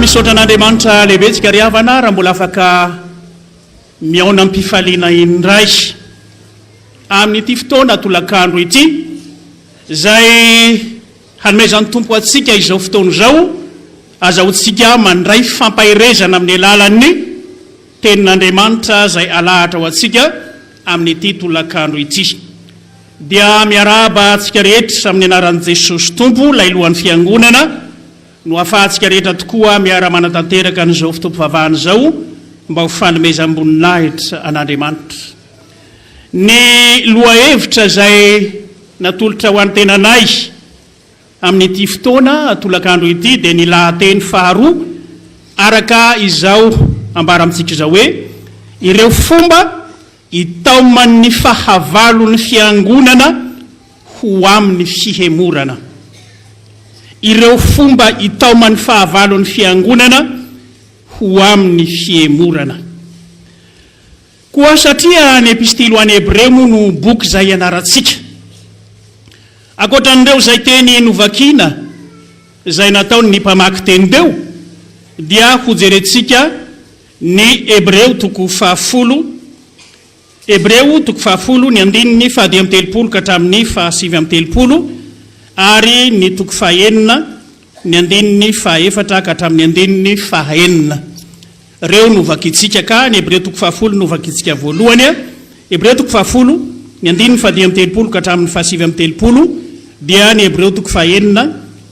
misaotra an'Andriamanitra lehibetsika ry havana raha mbola afaka Mihaona am-pifaliana indray amin'ity fotoana tolakandro ity izay hanomezan'ny Tompo antsika izao fotoana izao, azahoantsika mandray fampaherezana amin'ny alalan'ny Tenin'Andriamanitra izay alahatra ho antsika amin'ity tolakandro ity. Dia miarahaba antsika rehetra amin'ny anaran'i Jesosy Tompo, ilay Lohan'ny Fiangonana, no ahafahantsika rehetra tokoa miara-manatanteraka an'izao fotoam-pivavahana izao mba ho fanomezam-boninahitra an'Andriamanitra. Ny lohahevitra izay natolotra ho an'ny tenanay amin'ity fotoana tolakandro ity dia ny lahateny faharoa araka izao ambara amintsika izao hoe, Ireo fomba I Taoman' ny fahavalo ny Fiangonana ho amin' ny fihemorana. Ireo fomba itaoman' ny fahavalo ny Fiangonana ho amin' ny fihemorana. Koa satria ny Epistily ho an' ny Hebreo moa no boky izay ianarantsika, ankoatra an' ireo izay teny novakina izay nataon' ny mpamaky teny teo, dia hojerentsika Ny Hebreo toko fahafolo, Hebreo toko fahafolo, ny andininy fahadimy amby telopolo ka hatramin'ny fahasivy amby telopolo, ary ny toko fahenina, ny andininy fahaefatra ka hatramin'ny andininy fahaenina. Ireo no vakintsika ka, ny Hebreo toko fahafolo no vakintsika voalohany a. Hebreo toko fahafolo, ny andininy fahadimy amby telopolo ka hatramin'ny fahasivy amby telopolo, dia ny Hebreo toko fahenina,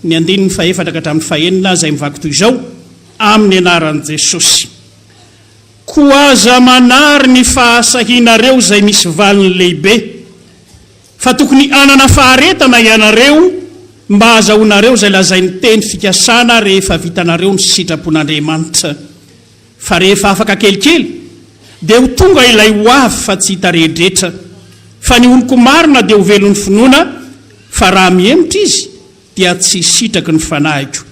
ny andininy fahaefatra ka hatramin'ny fahaenina, izay mivaky toy izao. Amin'ny anaran'i Jesosy. Koa aza manary ny fahasahianareo izay misy valiny lehibe, fa tokony hanana faharetana ianareo mba hahazahoanareo izay lazain'ny teny fikasana rehefa vitanareo ny sitrapon'Andriamanitra. Fa rehefa afaka kelikely, dia ho tonga ilay ho avy fa tsy hita rehedraetra. Fa ny oloko marina dia ho velon'ny finoana, fa raha mihemotra izy, dia tsy sitraky ny fanahiko,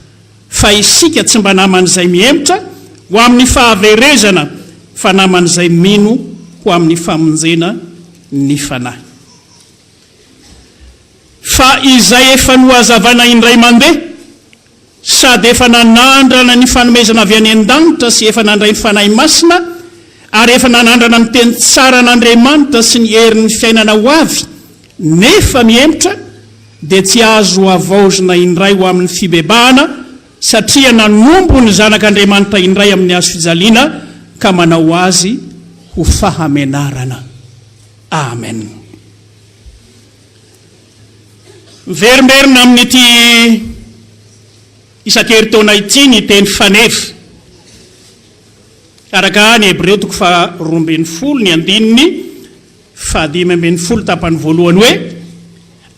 fa isika tsy mba naman'izay mihemotra ho amin'ny fahaverezana, fa naman'izay mino ho amin'ny famonjena ny fanahy. Fa izay efa nohazavaina indray mandeha, sady efa nanandrana ny fanomezana avy any an-danitra sy efa nandray ny Fanahy Masina, ary efa nanandrana ny teny tsaran'Andriamanitra sy ny herin'ny fiainana ho avy, nefa mihemotra dia tsy azo havaozina indray ho amin'ny fibebahana satria nanompo ny Zanak'Andriamanitra indray amin'ny Hazo fijaliana ka manao azy ho fahamenarana. Amen. Miverimberina amin'ity isan-keritaona ity ny teny faneva. Araka ny Hebreo toko faharoa ambin'ny folo ny andininy, Faha dimy ambin'ny folo tapany voalohany hoe,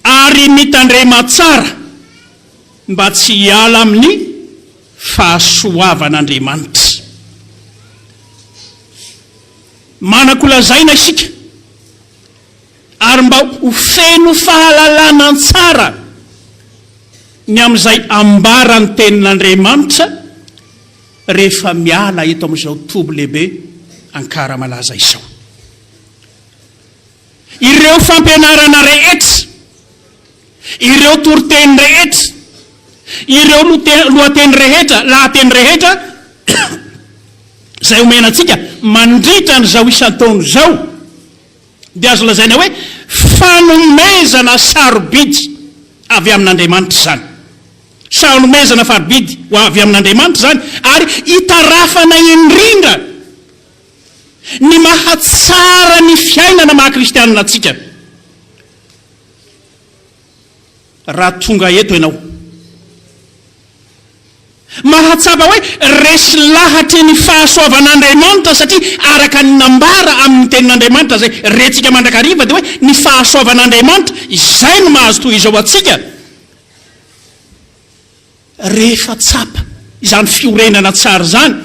Ary mitandrema tsara mba tsy hiala amin'ny fahasoavan'Andriamanitra. Manan-kolazaina isika, ary mba ho feno fahalalana tsara ny amin'izay ambaran'ny Tenin'Andriamanitra rehefa miala eto amin'izao toby lehibe Ankara malaza izao. Ireo fampianarana rehetra, ireo toriteny rehetra, ireo lohateny rehetra, lahateny rehetra izay omena antsika mandritra an'izao isan-taona izao dia azo lazaina hoe fanomezana sarobidy avy amin'Andriamanitra izany. Sanomezana farobidy ho avy amin'Andriamanitra izany ary itarafana indrindra. ny mahatsara ny fiainana maha kristianina antsika. Raha tonga eto ianao, mahatsapa hoe resy lahatra ny fahasoavan'Andriamanitra satria araka ny nambara amin'ny tenin'Andriamanitra izay rentsika mandrakariva dia hoe ny fahasoavan'Andriamanitra izay no mahazo toy izao antsika. Rehefa tsapa izany fiorenana tsara izany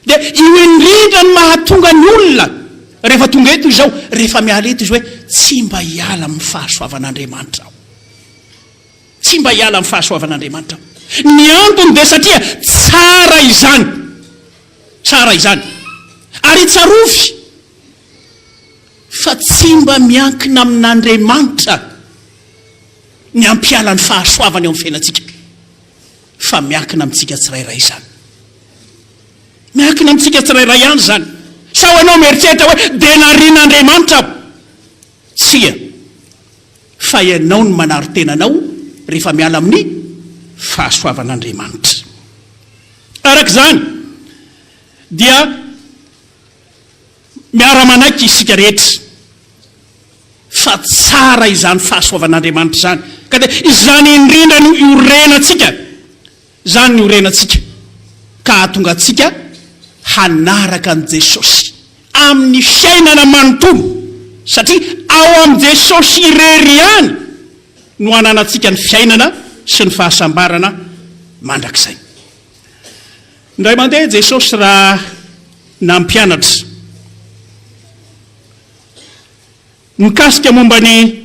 dia io indrindra no mahatonga ny olona rehefa tonga eto izao, rehefa miala eto izy hoe tsy mba hiala amin'ny fahasoavan'Andriamanitra aho. Tsy mba hiala amin'ny fahasoavan'Andriamanitra aho. Ny antony dia satria tsara izany. Tsara izany. Ary tsarovy fa tsy mba miankina amin'Andriamanitra. ny hampiala ny fahasoavany eo amin'ny fiainantsika, fa miankina amintsika tsirairay izany. Miankina amintsika tsirairay ihany izany. Sao ianao mieritreritra hoe dia narian'Andriamanitra aho. Tsia, fa ianao no manary tena anao rehefa miala amin'ny fahasoavan'Andriamanitra. Araka izany dia Miara-manaiky isika rehetra fa tsara izany fahasoavan'Andriamanitra izany, ka dia izany indrindra no iorenantsika, izany no iorenantsika ka hahatonga antsika hanaraka an'i Jesosy amin'ny fiainana manontolo, satria ao amin'i Jesosy irery ihany no ananantsika ny fiainana sy ny fahasambarana mandrakizay. Indray mandeha Jesosy raha nampianatra mikasika momba ny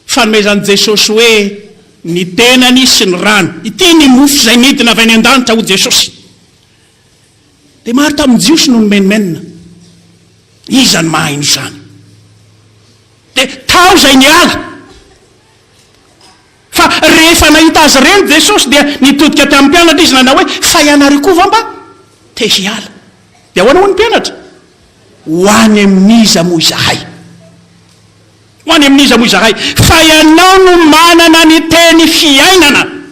fanomezan'i Jesosy hoe ny tenany sy ny rany. Ity ny mofo izay nidina avy any an-danitra, hoy Jesosy. Dia maro tamin'ny Jiosy no nimenomenona. Iza no mahaino izany? Dia tao izay niala. Fa rehefa nahita azy ireny Jesosy dia nitodika tamin'ny mpianatra Izy nanao hoe, Fa ianareo koa va mba te hiala? Dia ahoana hoy ny mpianatra? Ho any amin'iza moa izahay? Ho any amin'iza moa izahay? Fa Ianao no manana ny Teny Fiainana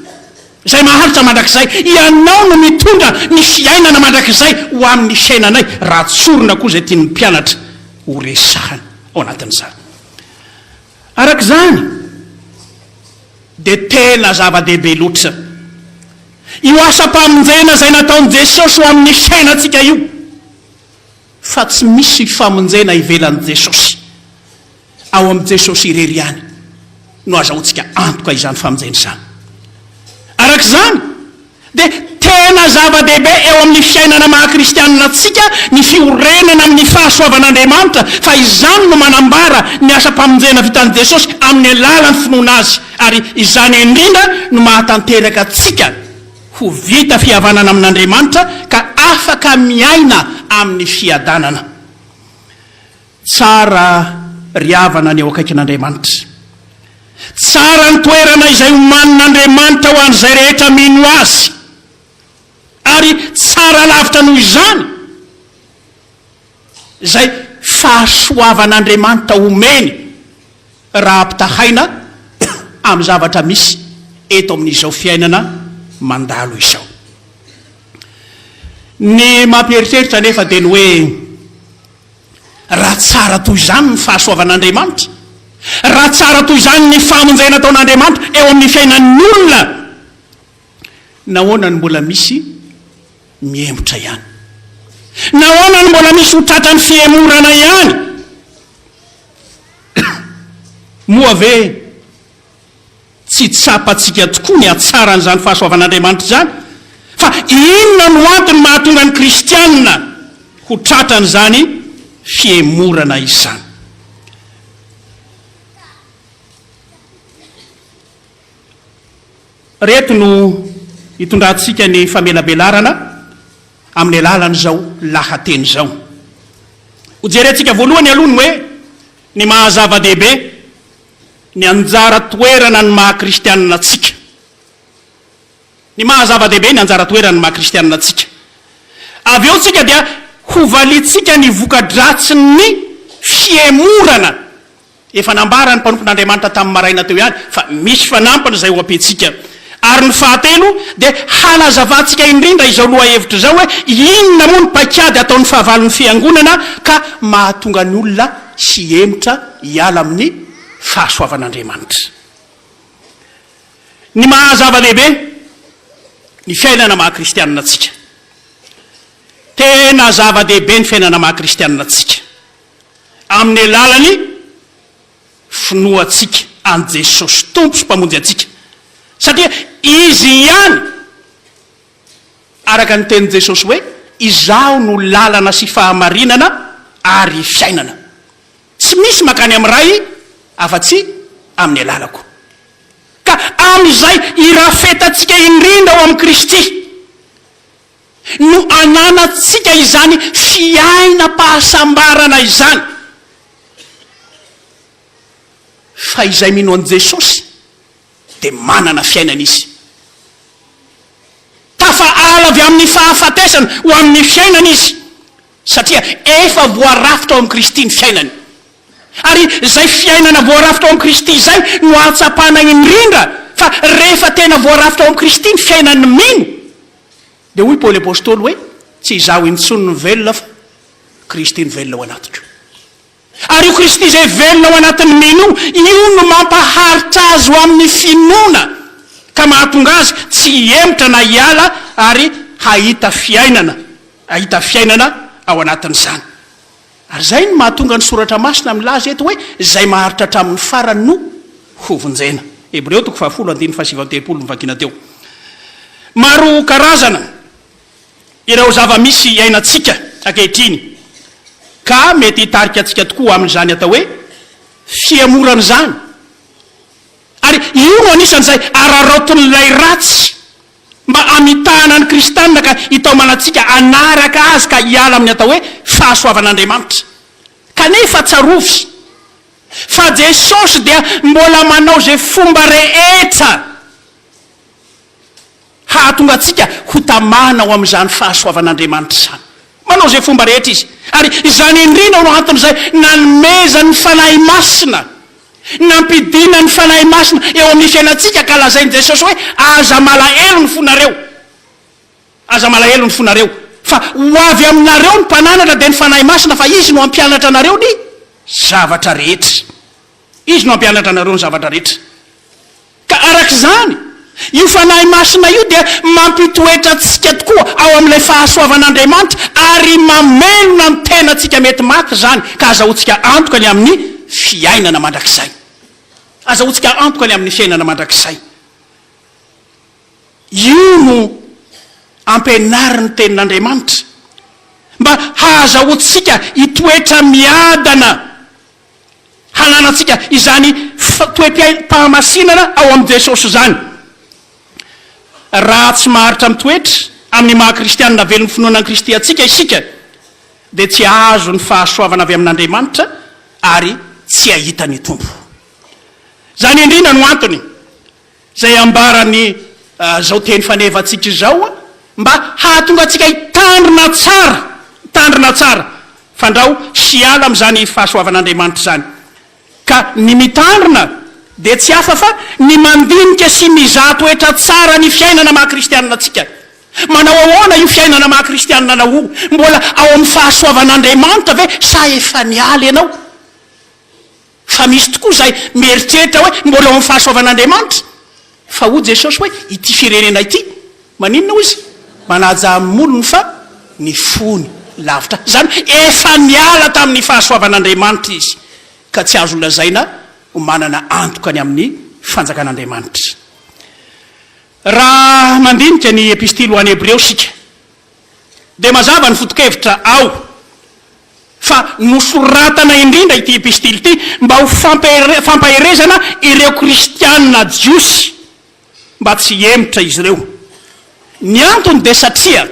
izay maharitra mandrakizay. Ianao no mitondra ny Fiainana mandrakizay ho amin'ny fiainanay, raha tsorina koa izay tian'ny mpianatra horesahina ao anatin'izany. Araka izany, dia tena zava-dehibe loatra io asam-pamonjena izay nataon'i Jesosy ho amin'ny fiainantsika io, fa tsy misy famonjena ivelan'i Jesosy. Ao amin'i Jesosy irery ihany no azahoantsika antoka izany famonjena izany. Araka izany, dia tena zava-dehibe eo amin'ny fiainana maha-kristianina antsika ny fiorenana amin'ny fahasoavan'Andriamanitra, fa izany no manambara ny asam-pamonjena vitan'i Jesosy amin'ny alalan'ny finoana Azy, ary izany indrindra no mahatanteraka antsika ho vita fihavanana amin'Andriamanitra ka afaka miaina amin'ny fiadanana. Tsara ry havana ny eo akaikin'Andriamanitra. Tsara ny toerana izay omanin'Andriamanitra ho an'izay rehetra mino Azy. Ary tsara lavitra noho izany izay fahasoavan'Andriamanitra omeny raha ampitahaina amin'ny zavatra misy eto amin'izao fiainana mandalo izao. Ny mampieritreritra anefa dia ny hoe, Raha tsara toy izany ny fahasoavan'Andriamanitra, raha tsara toy izany ny famonjena ataon'Andriamanitra eo amin'ny fiainan'ny olona, nahoana no mbola misy mihemotra ihany? Nahoana no mbola misy ho tratran'ny fihemorana ihany? Moa ve Tsy tsapantsika tokoa ny hatsaran'izany fahasoavan'Andriamanitra izany. Fa inona no antony mahatonga ny Kristianina ho tratran'izany fihemorana izany? Ireto no itondrantsika ny famelabelarana amin'ny alalan'izao lahateny izao. Hojerentsika voalohany aloha ny hoe ny maha-zava-dehibe ny anjara toerana ny maha kristianina antsika. Ny maha zava-dehibe ny anjara toerana ny maha kristianina antsika. Avy eo tsika dia ho valintsika ny voka-dratsin'ny fihemorana. Efa nambaran'ny mpanompon'Andriamanitra tamin'ny maraina teo ihany fa misy fanampiny izay ho ampiantsika Ary ny fahatelo dia hanazavantsika indrindra izao lohahevitra izao hoe inona moa ny paikady ataon'ny fahavalon'ny Fiangonana ka mahatonga ny olona hihemotra hiala amin'ny fahasoavan'Andriamanitra. Ny maha zava-dehibe ny fiainana maha kristianina antsika. Tena zava-dehibe ny fiainana maha kristianina antsika amin'ny alalan'ny. finoantsika an'i Jesosy Tompo sy Mpamonjy antsika, satria Izy ihany, araka ny tenin'i Jesosy hoe, Izaho no lalana sy fahamarinana ary fiainana. Tsy misy mankany amin'ny Ray afa-tsy amin'ny alalako. Ka amin'izay irafetantsika indrindra ao amin'i Kristy. no ananantsika izany fiainam-pahasambarana izany. Fa izay mino an'i Jesosy dia manana fiainana izy. Tafaala avy amin'ny fahafatesana ho amin'ny fiainana izy, satria efa voarafitra ao amin'i Kristy ny fiainany. Ary izay fiainana voarafitra ao amin'i Kristy izay no ahatsapana indrindra fa rehefa tena voarafitra ao amin'i Kristy ny fiainan'ny mino, Dia hoy Paoly Apostoly hoe, Tsy izaho intsony no velona fa Kristy no velona ao anatiko. Ary io Kristy izay velona ao anatin'ny mino io no mampaharitra azy ho amin'ny finoana ka mahatonga azy tsy hihemotra na hiala ary hahita fiainana, hahita fiainana ao anatin'izany. Ary izay no mahatonga ny Soratra Masina milaza eto hoe izay maharitra hatramin'ny farany no hovonjena. Hebreo toko fahafolo andininy fahasivy amby telopolo no vakina teo. Maro karazana ireo zava-misy iainantsika ankehitriny, ka mety hitarika antsika tokoa amin'izany atao hoe fihemorana izany. Ary io no anisan'izay araraotin'ilay ratsy. Mba hamitahana ny kristianina ka hitaomanantsika hanaraka Azy ka hiala amin'ny atao hoe fahasoavan'Andriamanitra. Kanefa tsarovy fa Jesosy dia mbola manao izay fomba rehetra hahatonga antsika ho tamana ao amin'izany fahasoavan'Andriamanitra izany. Manao izay fomba rehetra Izy. Ary izany indrindra no anton'izay nanomezany ny Fanahy Masina. Nampidina ny Fanahy Masina eo amin'ny fiainantsika ka lazain'i Jesosy hoe, Aza malahelo ny fonareo, aza malahelo ny fonareo, fa ho avy aminareo ny Mpananatra, dia ny Fanahy Masina, fa Izy no hampianatra anareo ny zavatra rehetra. Izy no hampianatra anareo ny zavatra rehetra. Ka araka izany, io Fanahy Masina io dia mampitoetra antsika tokoa ao amin'ilay fahasoavan'Andriamanitra ary mamelona ny tenantsika mety maty izany, ka azahoantsika antoka ny amin'ny fiainana mandrakizay. Azahoantsika antoka ny amin'ny fiainana mandrakizay. Io no ampianarin'ny Tenin'Andriamanitra, mba hahazahoantsika hitoetra miadana. hananantsika izany toe-pahamasinana ao amin'i Jesosy izany. Raha tsy maharitra mitoetra amin'ny maha kristianina velon'ny finoana an'i Kristy antsika isika, dia tsy hahazo ny fahasoavana avy amin'Andriamanitra ary tsy hahita ny Tompo. Izany indrindra no antony Izay ambaran'i zao teny fanevantsika izao mba hahatonga antsika hitandrina tsara, hitandrina tsara fandrao sy hiala amin'izany fahasoavan'Andriamanitra izany. Ka ny mitandrina dia tsy hafa fa ny mandinika sy mizaha toetra tsara ny fiainana maha kristianina antsika. Manao ahoana io fiainana maha kristianina anao io? Mbola ao amin'ny fahasoavan'Andriamanitra ve sa efa niala ianao? Fa misy tokoa izay mieritreritra hoe mbola eo amin'ny fahasoavan'Andriamanitra. Fa hoy Jesosy hoe ity firenena ity, maninona hoy Izy? Manaja amin'ny molony fa ny fony lavitra ahy. Izany hoe efa niala tamin'ny fahasoavan'Andriamanitra izy, ka tsy azo lazaina ho manana antoka ny amin'ny fanjakan'Andriamanitra. Raha mandinika ny Epistily ho an'ny Hebreo isika, dia mazava ny foto-kevitra ao fa nosoratana indrindra ity epistily ity mba ho fampaherezana ireo kristiana jiosy mba tsy hihemotra izy ireo. Ny antony dia satria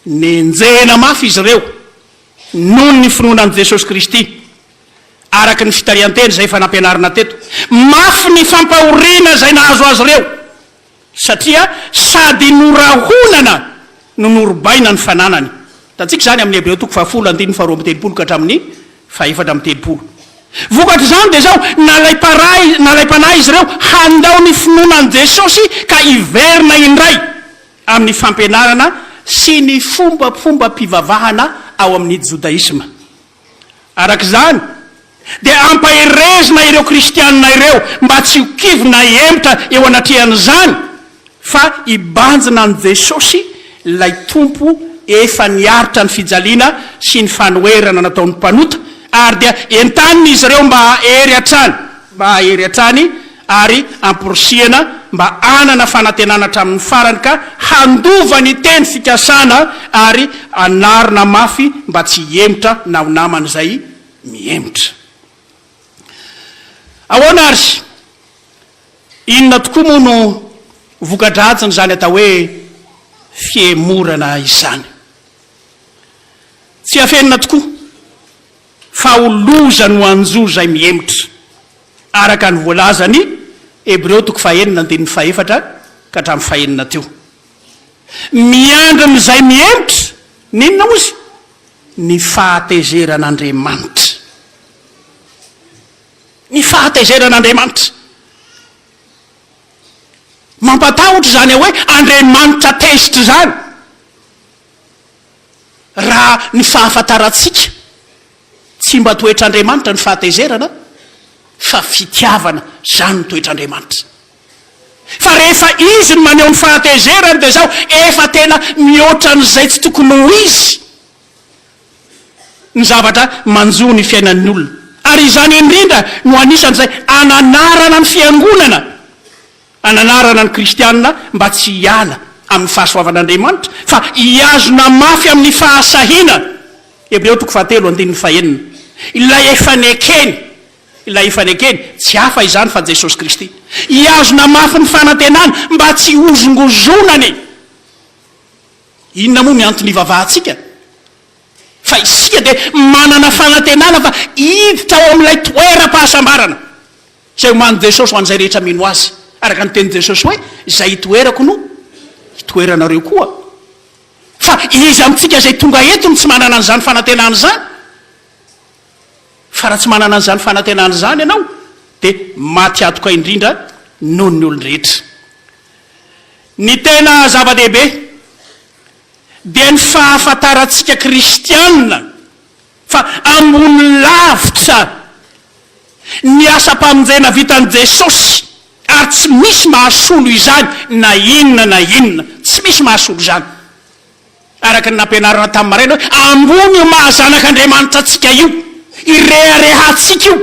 nenjehina mafy izy ireo noho ny finoana an'i Jesosy Kristy, araka ny fitarihan-teny izay efa nampianarina teto. Mafy ny fampahoriana izay nahazo azy ireo, Satria sady norahonana no norobaina ny fananany. Hitantsika izany amin'ny Hebreo toko fahafolo andininy faharoa amby telopolo ka hatramin'ny fahefatra amby telopolo. Vokatr'izany dia izao, nalaim-parahy, nalaim-panahy izy ireo handao ny finoana an'i Jesosy ka hiverina indray amin'ny fampianarana sy ny fombafombam-pivavahana ao amin'ny jodaisma. Araka izany, dia ampaherezina ireo Kristianina ireo mba tsy ho kivy na hihemotra eo anatrehan'izany, fa hibanjina an'i Jesosy, ilay Tompo efa niaritra ny fijaliana sy ny fanoherana nataon'ny mpanota, ary dia entanina izy ireo mba hahery hatrany, mba hahery hatrany, ary amporisihana mba hanana fanantenana hatramin'ny farany ka handova ny teny fikasana ary hanarina mafy mba tsy hihemotra na ho namana izay mihemotra. Ahoana ary? Inona tokoa moa no voka-dratsin'izany atao hoe fihemorana izany? Tsy afenina tokoa. Fa ho loza no hanjo izay mihemotra, araka ny voalazan'i Hebreo toko fahenina andininy fahefatra ka hatramin'ny fahenina teo. Miandry ny izay mihemotra ny inona moa izy? Ny fahatezeran'Andriamanitra. Ny fahatezeran'Andriamanitra. Mampatahotra izany hoe Andriamanitra tezitra izany. raha ny fahafantarantsika, tsy mba toetr'Andriamanitra ny fahatezerana fa fitiavana, izany no toetr'Andriamanitra. Fa rehefa Izy no maneho ny fahatezerany dia izao, efa tena mihoatra an'izay tsy tokony ho izy ny zavatra manjo ny fiainan'ny olona. Ary izany indrindra no anisan'izay ananarana ny Fiangonana. Ananarana ny kristiana mba tsy hiala amin'ny fahasoavan'Andriamanitra fa hihazona mafy amin'ny fahasahiana, Hebreo toko fahatelo andininy fahenina, ilay efa nekeny, ilay efa nekeny, tsy hafa izany fa Jesosy Kristy. Hihazona mafy ny fanantenana mba tsy hozongozonany. Inona moa ny antony hivavahantsika? Fa isika dia manana fanantenana fa hiditra ao amin'ilay toeram-pahasambarana. Tsy hay omanin'i Jesosy ho an'izay rehetra mino Azy. Araka ny tenin'i Jesosy hoe, Izay itoerako no hitoeranareo koa. Fa iza amintsika izay tonga eto no tsy manana an'izany fanantenana izany? Fa raha tsy manana an'izany fanantenana izany ianao, dia maty antoka indrindra noho ny olon-drehetra. Ny tena zava-dehibe dia ny fahafantarantsika kristiana. Fa ambony lavitra ny asam-pamonjena vitan'i Jesosy ary tsy misy mahasolo izany na inona na inona. Tsy misy mahasolo izany. Araka ny nampianarina tamin'ny maraina hoe ambony io maha zanak'Andriamanitra antsika io, ireharehantsika io,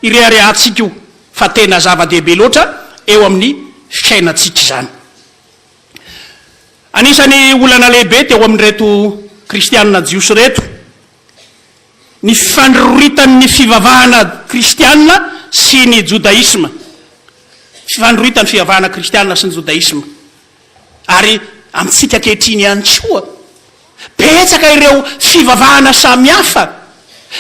ireharehantsika io fa tena zava-dehibe loatra eo amin'ny fiainantsika izany. Anisan'ny olana lehibe teo amin'ireto Kristianina Jiosy ireto ny fifandroritan'ny fivavahana kristianina sy ny jodaisma, fifandroritan'ny fivavahana kristianina sy ny jodaisma, ary amintsika ankehitriny ihany koa. Betsaka ireo fivavahana samihafa,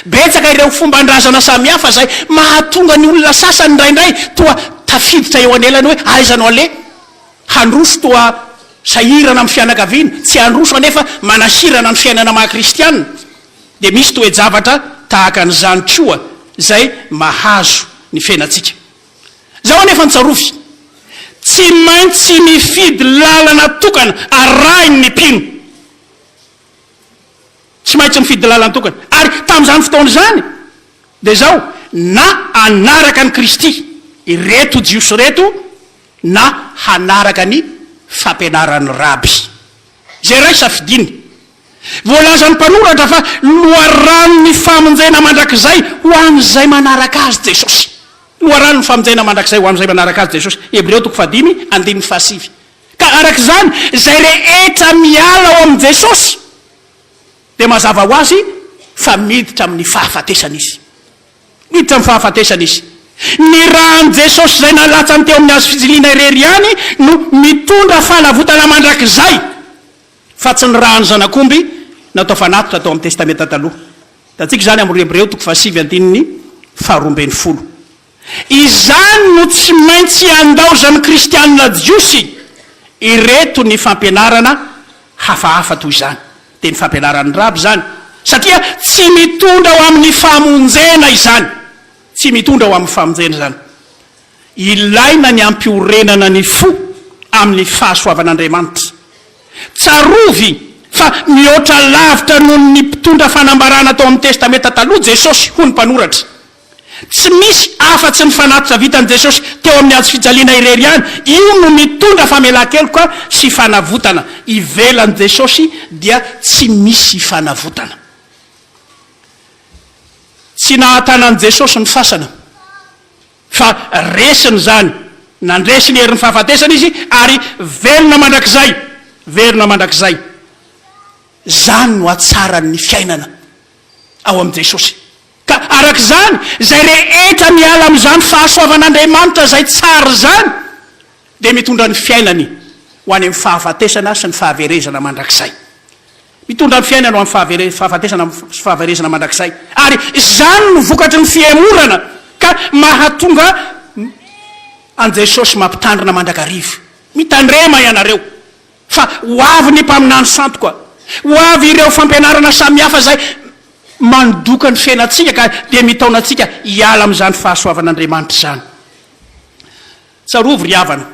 betsaka ireo fomban-drazana samihafa izay mahatonga ny olona sasany indraindray toa tafiditra eo anelany hoe aiza no aleha. Handroso toa sahirana amin'ny fianakaviana, tsy handroso anefa manahirana ny fiainana maha kristiana. Dia misy toe-javatra tahaka an'izany koa izay mahazo ny fiainantsika. Izaho anefa nitsarofy, Tsy maintsy mifidy lalana tokana arahiny ny mpino. Tsy maintsy mifidy lalana tokana. Ary tamin'izany fotoana izany, dia izao, na hanaraka an'i Kristy ireto Jiosy ireto, na hanaraka ny fampianaran'ny Raby. Izay iray safidiany. Voalazan'ny mpanoratra fa loharanon'ny famonjena mandrakizay ho an'izay manaraka Azy Jesosy. Loharanon'ny famonjena mandrakizay ho amin'izay manaraka Azy Jesosy, Hebreo toko fahadimy, andininy fahasivy. Ka araka izany, izay rehetra miala ao amin'i Jesosy, dia mazava ho azy fa miditra amin'ny fahafatesana izy. Miditra amin'ny fahafatesana izy. Ny ran'i Jesosy izay nalatsany teo amin'ny Hazo fijiliana irery ihany no mitondra fanavotana mandrakizay. Fa tsy ny ràn'ny zanak'omby natao fanatitra tao amin'ny Testamenta Taloha. Hitantsika izany amin'ny roa Hebreo toko fahasivy andininy faharoa ambin'ny folo. Izany no tsy maintsy handaozan'ny Kristianina jiosy ireto ny fampianarana hafahafa toy izany, dia ny fampianaran'ny raby izany, satria tsy mitondra ho amin'ny famonjena izany. Tsy mitondra ho amin'ny famonjena izany. Ilaina ny hampiorenana ny fo amin'ny fahasoavan'Andriamanitra. Tsarovy fa mihoatra lavitra noho ny mpitondra fanambarana tao amin'ny Testamenta Taloha Jesosy ho ny mpanoratra. Tsy misy afa-tsy ny fanatitra vitan'i Jesosy teo amin'ny Hazo fijaliana irery ihany. Io no mitondra famelan-keloka sy fanavotana. Ivelan'i Jesosy dia tsy misy fanavotana. Tsy nahatana an'i Jesosy ny fasana. Fa resiny izany. Nandresy ny herin'ny fahafatesana Izy, ary velona mandrakizay. Velona mandrakizay. Izany no hatsaran'ny fiainana ao amin'i Jesosy. Ka araka izany, izay rehetra miala amin'izany fahasoavan'Andriamanitra izay tsara izany, dia mitondra ny fiainany ho any amin'ny fahafatesana sy ny fahaverezana mandrakizay. Mitondra ny fiainana ho amin'ny fahafatesana sy fahaverezana mandrakizay, ary izany no vokatry ny fihemorana ka mahatonga an'i Jesosy mampitandrina mandrakariva, Mitandrema ianareo, fa ho avy ny Mpaminany Santoka, ho avy ireo fampianarana samihafa izay mandoka ny fiainantsika ka dia mitaona antsika hiala amin'izany fahasoavan'Andriamanitra izany. Tsarovy ry havana,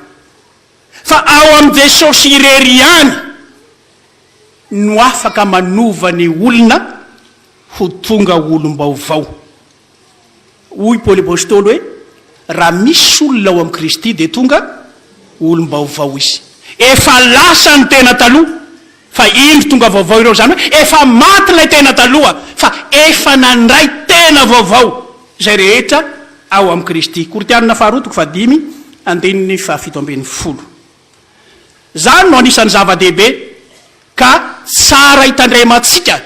fa ao amin'i Jesosy irery ihany. no afaka manova ny olona ho tonga olom-baovao. Hoy Paoly Apostoly hoe, Raha misy olona ao amin'i Kristy, dia tonga olom-baovao izy. Efa lasa ny tena taloha, fa indro tonga vaovao ireo. Izany hoe, efa maty ilay tena taloha, fa efa nandray tena vaovao izay rehetra ao amin'i Kristy. Korintiana faharoa toko fahadimy, andininy fahafito ambin'ny folo. Izany no anisan'ny zava-dehibe ka tsara hitandremantsika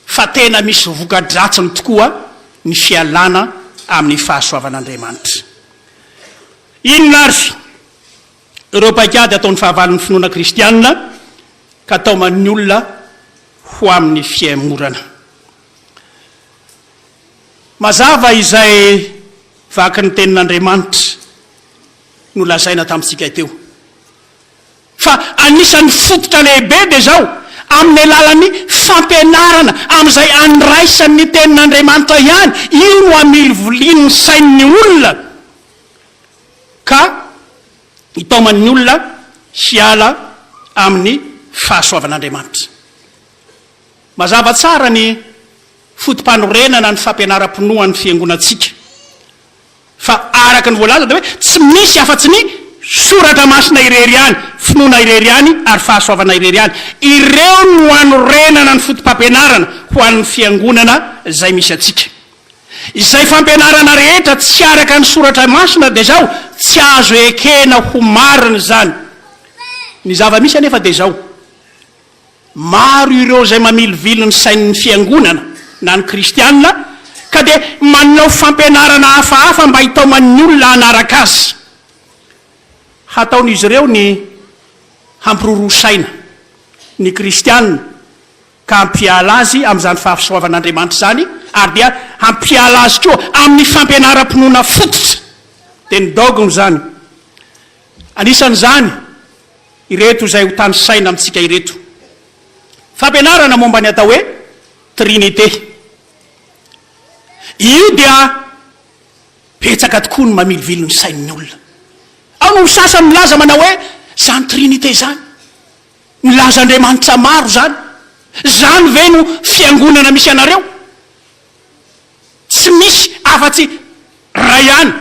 fa tena misy voka-dratsiny tokoa ny fialana amin'ny fahasoavan'Andriamanitra. Inona ary ireo paikady ataon'ny fahavalon'ny finoana kristiana ka taoman'ny olona ho amin'ny fihemorana? Mazava izay vakin'ny Tenin'Andriamanitra. nolazaina tamintsika teo. Fa anisan'ny fototra lehibe dia izao, amin'ny alalan'ny fampianarana amin'izay andraisany ny Tenin'Andriamanitra ihany, io no amilivolian'ny sain'ny olona ka hitaomany ny olona hiala amin'ny fahasoavan'Andriamanitra. Mazava tsara ny foto-panorenana ny fampianaram-pinoan'ny Fiangonantsika. Fa araka ny voalaza dia hoe tsy misy afa-tsy ny Soratra Masina irery ihany, finoana irery ihany ary fahasoavana irery ihany. Ireo no anorenana ny fotopampianarana ho an'ny fiangonana izay misy antsika. Izay fampianarana rehetra tsy araka ny Soratra Masina dia izao, tsy azo ekena ho marina izany. Ny zava-misy anefa dia izao. Maro ireo izay mamilivily ny sain'ny Fiangonana na ny Kristiana ka dia manao fampianarana hafahafa mba hitaoman'ny olona hanaraka azy. Hataon'izy ireo ny hampiroroa saina ny Kristiana ka hampiala azy amin'izany fahasoavan'Andriamanitra izany ary dia hampiala azy koa amin'ny fampianaram-pinoana fototra, dia ny dogme, izany. Anisan'izany ireto izay hotanisaina amintsika ireto, Fampianarana momba ny atao hoe Trinite. Io dia betsaka tokoa no mamilivily ny sain'ny olona. Ao no sasany milaza manao hoe, Izany Trinite izany, milaza andriamanitra maro izany, izany ve no fiangonana misy anareo? Tsy misy afa-tsy Ray ihany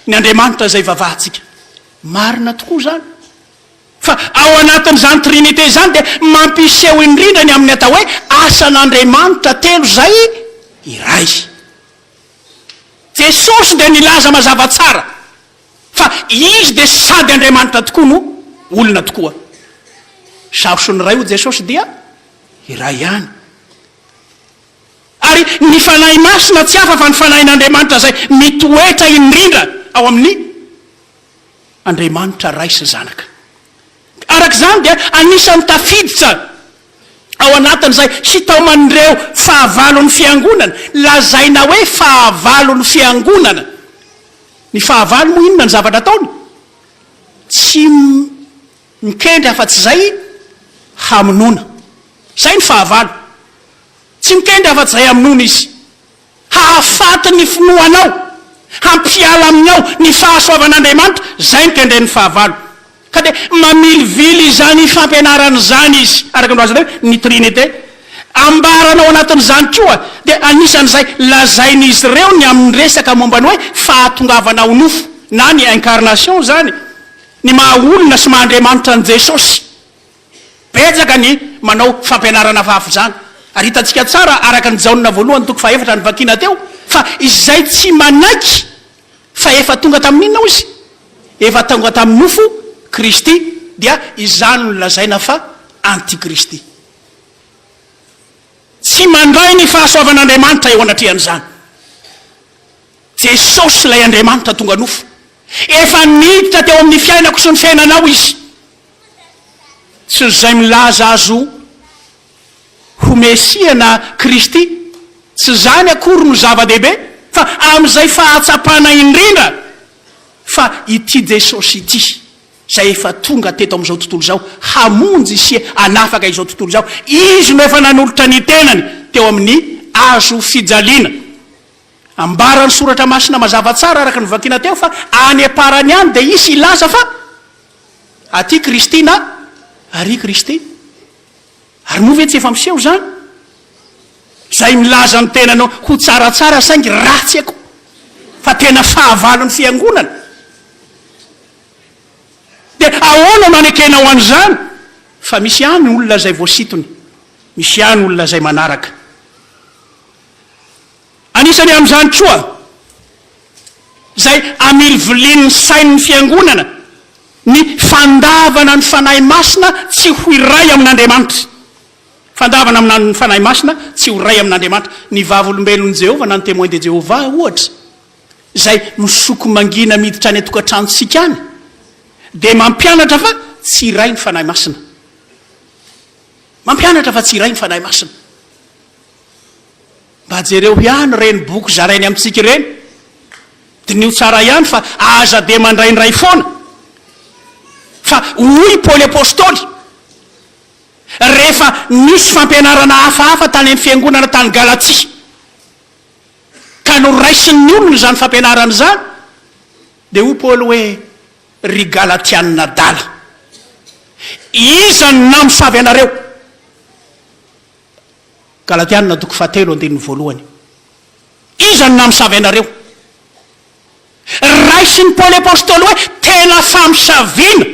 ny Andriamanitra izay ivavahantsika. Marina tokoa izany. Fa ao anatin'izany Trinite izany dia mampiseho indrindra ny amin'ny atao hoe asan'Andriamanitra telo izay iray. Jesosy dia nilaza mazava tsara fa Izy dia sady Andriamanitra tokoa no olona tokoa. Saho sy ny Ray hoy Jesosy dia iray ihany. Ary ny Fanahy Masina tsy hafa fa ny Fanahin'Andriamanitra izay mitoetra indrindra ao amin'ny Andriamanitra Ray sy Zanaka. Araka izany dia anisan'ny tafiditra ao anatin'izay hitaoman'ireo fahavalon'ny Fiangonana, lazaina hoe fahavalon'ny Fiangonana. Ny fahavalo moa inona ny zavatra ataony? Tsy mikendry afa-tsy izay hamonoana. Izay ny fahavalo. Tsy mitendry afa-jay amin'ony Izy. Hahafaty ny finoanao, hampiala amin'ny ao ny fahasoavan'Andriamanitra, izay no tendren'ny fahavalo. Ka dia mamilivily izany fampianarana izany Izy, araka ny voalazanay hoe ny Trinite. Ambarany ao anatin'izany koa, dia anisan'izay lazain'izy ireo ny amin'ny resaka momba ny hoe fahatongavana ho nofo, na ny incarnation izany, ny maha-olona sy maha-Andriamanitra an'i Jesosy. Betsaka ny manao fampianarana fahafy izany, ary hitantsika tsara araka ny Jaona voalohany toko fahefatra novakiana teo fa izay tsy manaiky fa efa tonga tamin' inona hoy izy? efa tonga tamin'ny nofo Kristy dia izany no lazaina fa antikristy. Tsy mandray ny fahasoavan' Andriamanitra eo anatrehan' izany. Jesosy ilay Andriamanitra tonga nofo efa niditra teo amin'ny fiainako sy ny fiainanao izy Tsy izay milaza azy ho Mesia na Kristy, tsy izany akory no zava-dehibe, fa amin'izay fahatsapana indrindra fa ity Jesosy ity, izay efa tonga teto amin'izao tontolo izao hamonjy sy hanafaka izao tontolo izao, Izy no efa nanolotra ny tenany teo amin'ny hazo fijaliana. Ambaran'ny Soratra Masina mazava tsara araka ny vakiana teo fa any am-parany any dia hisy hilaza fa. Aty Kristy na Ary i Kristy. Ary moa ve tsy efa miseho izany? Izay milaza ny tenany ho tsaratsara saingy ratsy akoho, fa tena fahavalon'ny Fiangonana. Dia ahoana no anekenao an'izany? Fa misy ihany olona izay voasintony, misy ihany olona izay manaraka. Anisany amin'izany koa izay amilivilin'ny sain'ny Fiangonana ny fandavana ny Fanahy Masina tsy ho iray amin'Andriamanitra. Fandavana ny Fanahy Masina tsy ho iray amin'Andriamanitra. Ny Vavolombelon'i Jehovah na ny Témoins de Jéhovah, ohatra, izay misoko mangina miditra any an-tokantranontsika any, dia mampianatra fa tsy iray ny Fanahy Masina. Mampianatra fa tsy iray ny Fanahy Masina. Mba jereo ihany ireny boky zarainy amintsika ireny, diniho tsara ihany fa aza dia mandraindray foana. Fa hoy i Paoly Apostoly, rehefa nisy fampianarana hafahafa tany amin'ny fiangonana tany Galatia, ka noraisin'ny olona izany fampianarana izany, dia hoy Paoly hoe, Ry Galatianina adala, iza no namosavy anareo? Galatiana toko fahatelo andininy voalohany. Iza no namisavy anareo? Raisin'i Paoly Apostoly hoe tena famisaviana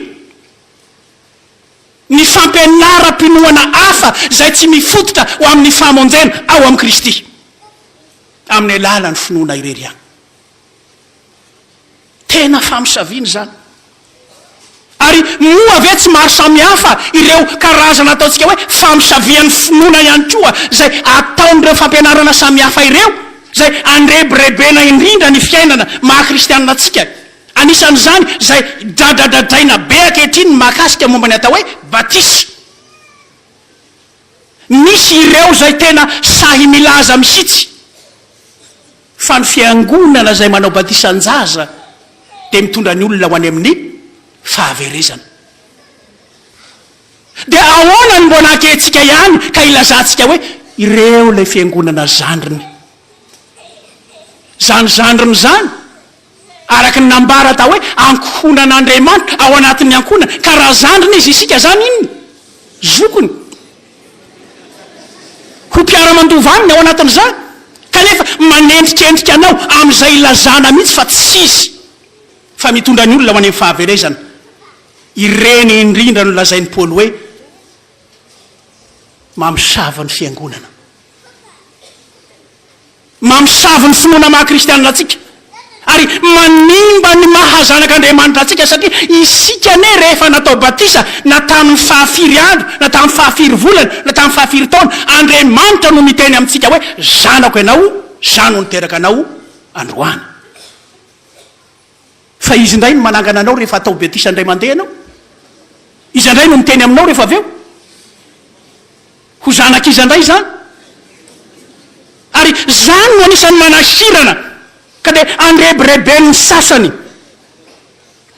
ny fampianaram-pinoana hafa izay tsy mifototra ho amin'ny famonjena ao amin'i Kristy amin'ny alalan'ny finoana irery ihany. Tena famosaviana izany. Ary moa ve tsy maro samihafa ireo karazana ataontsika hoe famosavian'ny finoana ihany koa izay ataon'ireo fampianarana samihafa ireo izay andrebirebena indrindra ny fiainana maha kristianina antsika. Anisan'izany izay dradradradraina be ankehitriny ny mahakasika momba ny atao hoe batisa. Misy ireo izay tena sahy milaza mihitsy fa ny fiangonana izay manao batisan-jaza dia mitondra ny olona ho any amin'ny fahaverezana. Dia ahoana no mbola ankehintsika ihany ka ilazantsika hoe ireo ilay fiangonana zandriny? Izany zandriny izany Araka ny nambara atao hoe ankohonan'Andriamanitra ao anatin'ny ankohonana, ka raha zandriny izy, isika izany inona? zokiny, ho mpiara-mandova aminy ao anatin'izany, kanefa manendrikendrika anao amin'izay ilazana mihitsy fa tsy izy fa mitondra ny olona ho any amin'ny fahaverezana. Ireny indrindra no lazain'i Paoly hoe mamosavy ny fiangonana. Mamosavy ny finoana maha kristianina antsika ary manimba ny maha zanak'Andriamanitra antsika satria isika anie rehefa natao batisa na tamin'ny faha firy andro na tamin'ny faha firy volana na tamin'ny faha firy taona Andriamanitra no niteny amintsika hoe zanako ianao za no niteraka anao androany. Fa izy indray no manangana anao rehefa atao betisa indray mandeha ianao. Izy indray no miteny aminao rehefa avy eo. Ho zanak'iza indray izany? Ary izany no anisan'ny manahirana ka dia andrebireben'ny sasany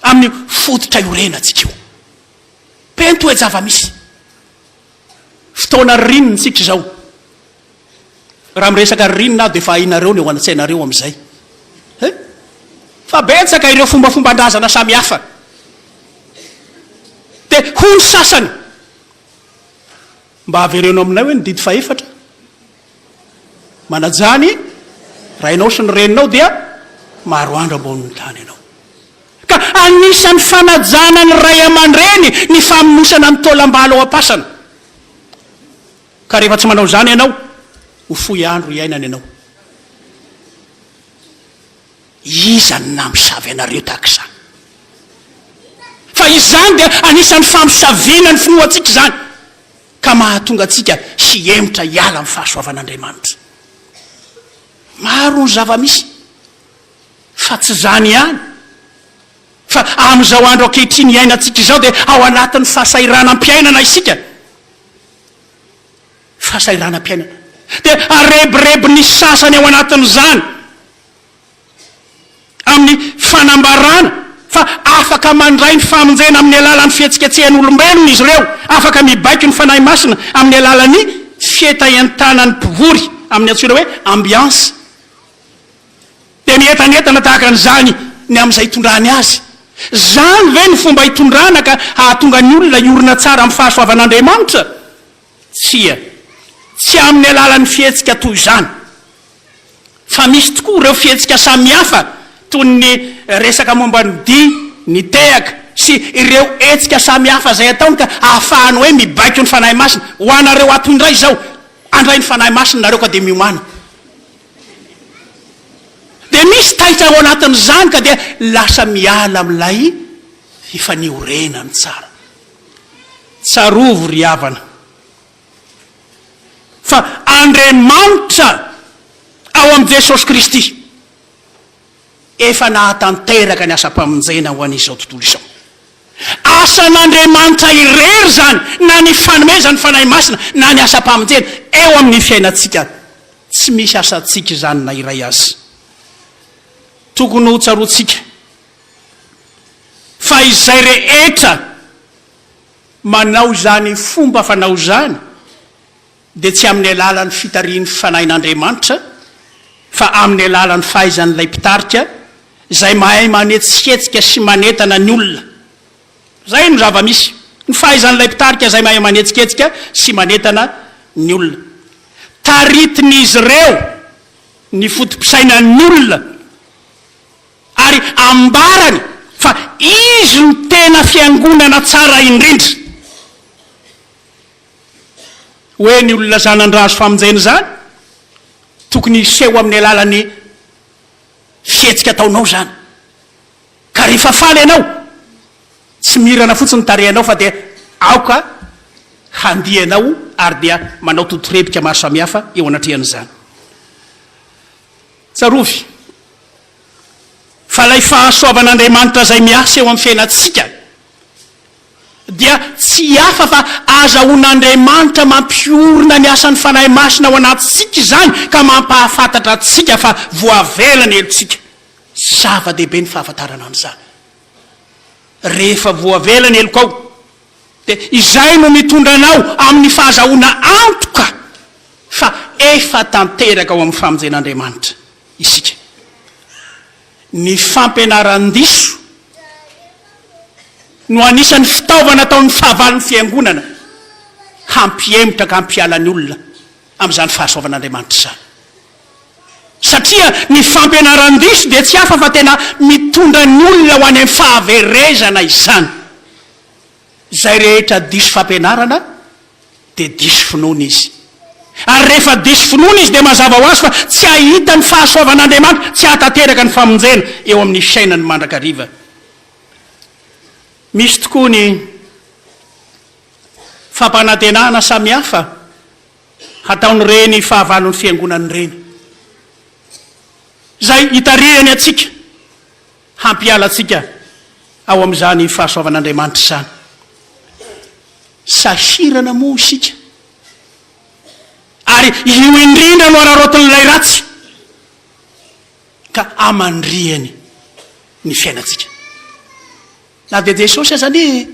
amin'io fototra iorenantsika io. Pento hoe zava-misy. Fotoana ririnina isika izao. Raha miresaka ririnina aho dia efa hainareo ny ao an-tsainareo amin'izay. He? Fa betsaka ireo fombafomban-drazana samihafa. Dia hoy ny sasany, Mba avereno aminay hoe ny didy fahefatra. Manajà ny rainao sy ny reninao dia maro andro ambonin'ny tany ianao. Ka anisan'ny fanajana ny ray aman-dreny ny famonosana ny taolam-balo ao am-pasana. Ka rehefa tsy manao izany ianao, ho fohy andro iainana ianao. Iza no namosavy anareo tahaka izany? Fa izany dia anisan'ny famosaviana ny finoantsika izany. ka mahatonga antsika hihemotra hiala amin'ny fahasoavan'Andriamanitra. Maro ny zava-misy, fa tsy izany ihany, fa amin'izao andro ankehitriny iainantsika izao dia ao anatin'ny fahasahiranam-piainana isika. Fahasahiranam-piainana. Dia arebirebin'ny sasany ao anatin'izany amin'ny fanambarana fa afaka mandray ny famonjena amin'ny alalan'ny fihetsiketsehan'olombelona izy ireo, afaka mibaiko ny Fanahy Masina amin'ny alalan'ny fietaentanan'ny mpivory amin'ny antsoina hoe ambiance. Dia mientanentana tahaka an'izany ny amin'izay itondrany azy. Izany ve no fomba itondrana ka hahatonga ny olona hiorina tsara amin'ny fahasoavan'Andriamanitra? Tsia, tsy amin'ny alalan'ny fihetsika toy izany, fa misy tokoa ireo fihetsika samihafa toy ny resaka momba ny dihy, ny tehaka sy ireo hetsika samihafa izay ataony ka ahafahany hoe mibaiko ny Fanahy Masina. Ho anareo ato indray izao, handray ny Fanahy Masina nareo ka dia miomàna. Dia misy taitra ao anatin'izany ka dia lasa miala amin'ilay fifaniorenany tsara. Tsarovy ry havana fa Andriamanitra ao amin'i Jesosy Kristy efa nahatanteraka ny asam-pamonjena ho an'izao tontolo izao. Asan'Andriamanitra irery izany na ny fanomezan'ny Fanahy Masina na ny asam-pamonjena eo amin'ny fiainantsika. Tsy misy asantsika izany na iray aza. Tokony hotsaroantsika. Fa izay rehetra manao izany fomba fanao izany dia tsy amin'ny alalan'ny fitarihin'ny Fanahin'Andriamanitra fa amin'ny alalan'ny fahaizan'ilay mpitarika izay mahay manetsiketsika sy manentana ny olona. Izay no zava-misy. Ny fahaizan'ilay mpitarika izay mahay manetsiketsika sy manentana ny olona. Taritin'izy ireo ny foto-pisainan'ny olona. Ary ambarany fa izy no tena fiangonana tsara indrindra. Hoe ny olona zanandra azo famonjena izany, tokony hiseho amin'ny alalan'ny fihetsika ataonao izany. Ka rehefa faly ianao, tsy mirana fotsiny ny tarehinao fa dia aoka handia ianao ary dia manao totorebika maro samihafa eo anatrehan'izany. Tsarovy fa ilay fahasoavan'Andriamanitra izay miasa eo amin'ny fiainantsika dia tsy hafa fa ahazahoan'Andriamanitra mampiorina ny asan'ny Fanahy Masina ao anatintsika izany ka mampahafantatra antsika fa voavela ny helotsika. Zava-dehibe ny fahafantarana an'izany. rehefa voavela ny helokao, dia izay no mitondra anao amin'ny fahazahoana antoka fa efa tanteraka ao amin'ny famonjen'Andriamanitra isika. Ny fampianaran-diso no anisan'ny fitaovana ataon'ny fahavalon'ny Fiangonana hampihemotra ka hampiala ny olona amin'izany fahasoavan'Andriamanitra izany. Satria ny fampianaran-diso dia tsy hafa fa tena mitondra ny olona ho any amin'ny fahaverezana izany. Izay rehetra diso fampianarana dia diso finoana izy. Ary rehefa diso finoana izy dia mazava ho azy fa tsy hahita ny fahasoavan'Andriamanitra, tsy hahatanteraka ny famonjena eo amin'ny fiainany mandrakariva. Misy tokoa ny fampanantenana samihafa. hataon'ireny fahavalon'ny Fiangonana ireny, izay hitarihany antsika hampiala antsika ao amin'izany fahasoavan'Andriamanitra izany. Sahirana moa isika, ary io indrindra no araraotin'ilay ratsy, ka amandrihany ny fiainantsika. Na dia Jesosy aza anie e!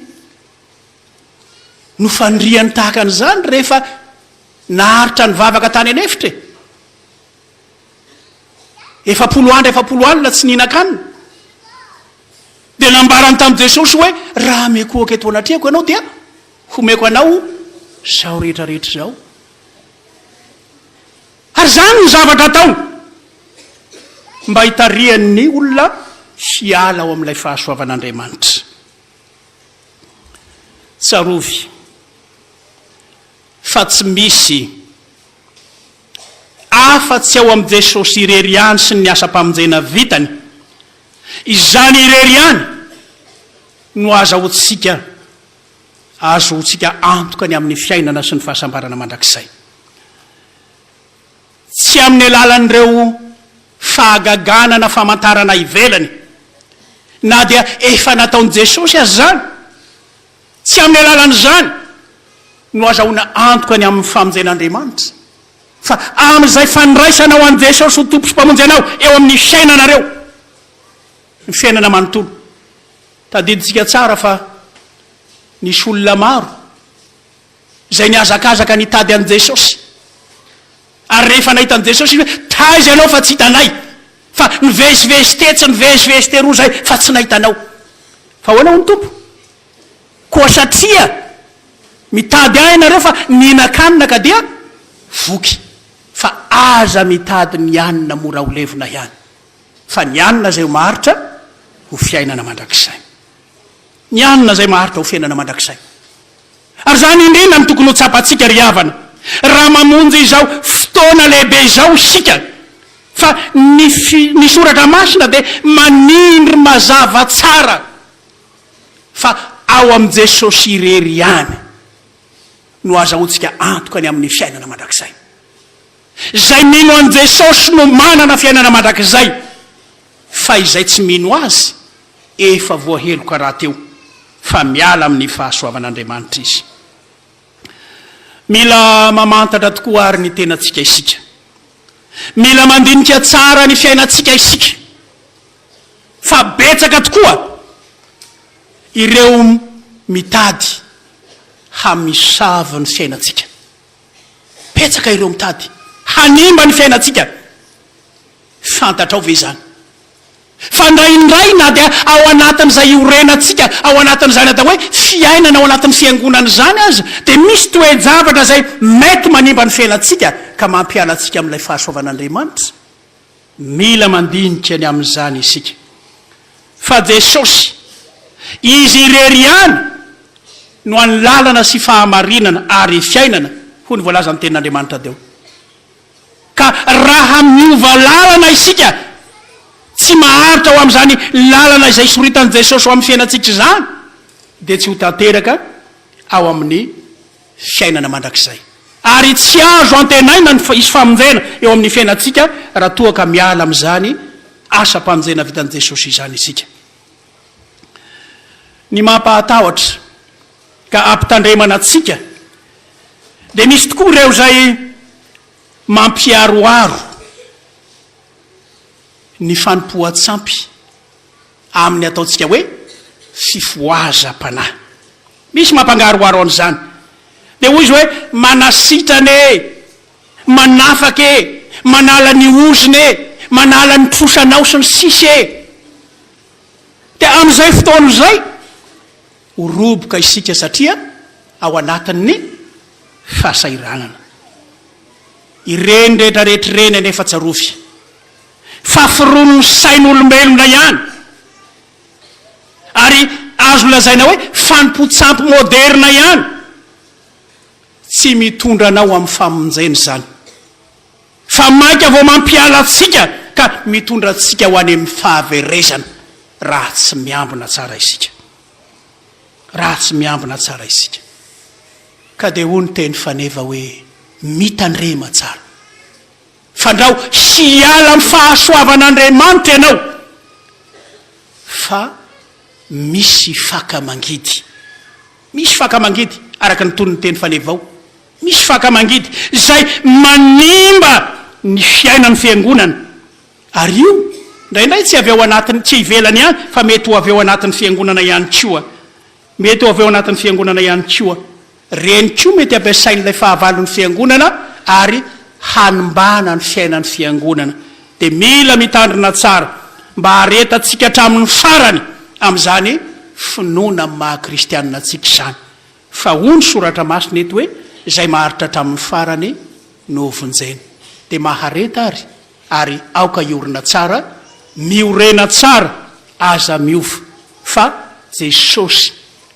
no faniriany tahaka an'izany rehefa naharitra nivavaka tany an'efitra e! Efapolo andro efapolo alina tsy nihinan-kanina. Dia nambarany tamin'i Jesosy hoe, raha mikohaka eto anatrehako ianao dia homeko anao izao rehetra rehetra izao. Ary izany no zavatra ataony mba hitarihan'ny olona hiala ao amin'ilay fahasoavan'Andriamanitra. Tsarovy fa tsy misy afa tsy ao amin'i Jesosy irery ihany sy ny asam-pamonjena vitany. Izany irery ihany no azahoantsika ahazoantsika antoka ny amin'ny fiainana sy ny fahasambarana mandrakizay. Tsy amin'ny alalan'ireo fahagagana na famantarana ivelany, na dia efa nataon'i Jesosy aza izany, tsy amin'ny alalan'izany no azahoana antoka ny amin'ny famonjen'Andriamanitra, fa amin'izay fandraisanao an'i Jesosy ho Tompo sy Mpamonjy anao eo amin'ny fiainanareo, ny fiainana manontolo. Tadidintsika tsara fa nisy olona maro izay nihazakazaka nitady an'i Jesosy. Ary rehefa nahita an'i Jesosy izy hoe, Taiza ianao fa tsy hitanay? Fa nivezivezy tetsy, nivezivezy teroa izay fa tsy nahita anao. Fa ahoana hoy ny Tompo? Koa satria mitady ahy ianareo fa nihinan-kanina ka dia voky. Fa aza mitady ny hanina mora ho levona ihany, fa ny hanina izay ho maharitra ho fiainana mandrakizay. Ny hanina izay maharitra ho fiainana mandrakizay. Ary izany indrindra no tokony ho tsapantsika ry havana, raha mamonjy izao fotoana lehibe izao isika, fa ny ny soratra masina dia manindry mazava tsara fa ao amin'i Jesosy irery ihany no azahoantsika antoka ny amin'ny fiainana mandrakizay. Izay mino an'i Jesosy no manana fiainana mandrakizay, fa izay tsy mino Azy Efa voaheloka rahateo fa miala amin'ny fahasoavan'Andriamanitra izy. Mila mamantatra tokoa àry ny tenantsika isika. Mila mandinika tsara ny fiainantsika isika, fa betsaka tokoa ireo mitady hamisavo ny fiainantsika. Betsaka ireo mitady hanimba ny fiainantsika. Fantatrao ve izany? Fa indraindray na dia ao anatin'izay iorenantsika ao anatin'izany atao hoe fiainana ao anatin'ny fiangonana izany aza dia misy toe-javatra izay mety manimba ny fiainantsika ka mampiala antsika amin'ilay fahasoavan'Andriamanitra. Mila mandinika ny amin'izany isika fa Jesosy Izy irery ihany no an'ny lalana sy fahamarinana ary fiainana hoy ny voalazan'ny tenin'Andriamanitra teo. Ka raha miova lalana isika, tsy maharitra ho amin'izany lalana izay soritan'i Jesosy ho amin'ny fiainantsika izany, dia tsy ho tanteraka ao amin'ny fiainana mandrakizay. Ary tsy azo antenaina ny hisy famonjena eo amin'ny fiainantsika raha toa ka miala amin'izany asam-pamonjena vitan'i Jesosy izany isika. Ny mampahatahotra. ka ampitandremana antsika dia misy tokoa ireo izay mampiharoharo ny fanompoan-tsampy amin'ny ataontsika hoe fifohazam-panahy. Misy mampangaroharo an'izany. Dia hoy izy hoe manasitrana e, manafaka e, manala ny ozona e, manala ny trosanao sy ny sisa e. Dia amin'izay fotoana izay, Ho roboka isika satria ao anatin'ny fahasahiranana. Ireny rehetra rehetra ireny anefa tsarovy fa firon'ny sain'olombelona ihany ary azo lazaina hoe fanompoan-tsampy moderina ihany. Tsy mitondra anao amin'ny famonjena izany. Fa mainka vao mampiala antsika ka mitondra antsika ho any amin'ny fahaverezana raha tsy miambina tsara isika. Raha tsy miambina tsara isika. Ka dia hoy ny teny faneva hoe, Mitandrema tsara. Fandrao hiala amin'ny fahasoavan'Andriamanitra ianao fa misy faka mangidy. Misy faka mangidy, araka ny tonon'ny teny faneva ao. Misy faka mangidy izay manimba ny fiainan'ny fiangonana, ary io indraindray tsy avy ao anatin'ny, tsy ivelany ihany, fa mety ho avy ao anatin'ny fiangonana ihany koa. Mety ho avy ao anatin'ny fiangonana ihany koa. Ireny koa mety ampiasain'ilay fahavalon'ny fiangonana ary hanimbana ny fiainan'ny fiangonana. Dia mila mitandrina tsara mba haharetantsika hatramin'ny farany amin'izany finoana amin'ny maha-kristianina antsika izany. Fa hoy ny Soratra Masina eto hoe, Izay maharitra hatramin'ny farany no hovonjena. Dia mahareta ary, ary aoka hiorina tsara, miorena tsara, aza miova, fa Jesosy,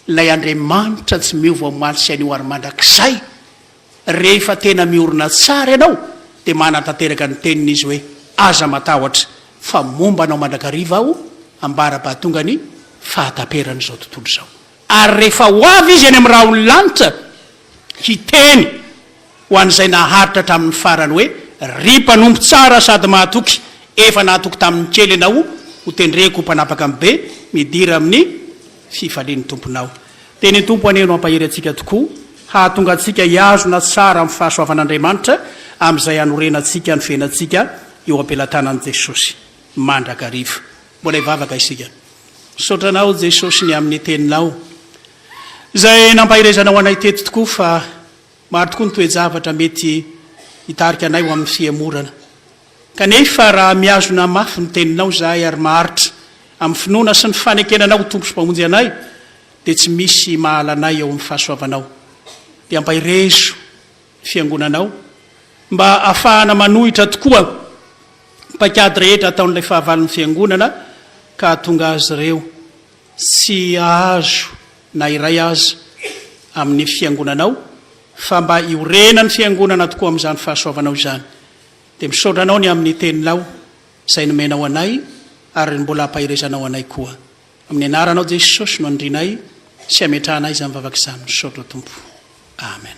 ilay Andriamanitra tsy miova omaly sy anio ary mandrakizay, rehefa tena miorina tsara ianao, dia manatanteraka ny teniny Izy hoe, Aza matahotra, fa momba anao mandrakariva Aho, ambara-bahatonga ny fahataperan'izao tontolo izao. Ary rehefa ho avy Izy any amin'ny rahon'ny lanitra, hiteny ho an'izay naharitra hatramin'ny farany hoe, Ry mpanompo tsara sady mahatoky, efa nahatoky tamin'ny kely ianao, ho tendreko ho mpanapaka amin'ny be, midira amin'ny fifalian'ny tomponao. Dia ny Tompo anie no hampahery antsika tokoa, hahatonga antsika hihazona tsara amin'ny fahasoavan'Andriamanitra, amin'izay hanorenantsika ny fiainantsika eo am-pelatanan'i Jesosy mandrakariva. Mbola hivavaka isika. Misaotra Anao Jesosy ny amin'ny Teninao izay nampaherezanao anay teto tokoa fa maro tokoa ny toe-javatra mety hitarika anay ho amin'ny fihemorana. Kanefa raha mihazona mafy ny Teninao izahay ary maharitra amin'ny finoana sy ny fanekena Anao ho Tompo sy Mpamonjy anay dia tsy misy mahala anay eo amin'ny fahasoavanao. Dia ampaherezo. Fiangonana ao, mba hahafahana manohitra tokoa ny paikady rehetra ataon'ilay fahavalon'ny Fiangonana ka hahatonga azy ireo tsy hahazo na iray aza amin'ny Fiangonana ao, fa mba hiorenan'ny Fiangonana tokoa amin'izany fahasoavanao izany. Dia misaotra anao ny amin'ny Teninao izay nomenao anay ary mbola hampaherezanao anay koa. Amin'ny anaranao Jesosy no andrinay sy ametrahanay izany vavaka izany misaotra Tompo Amen.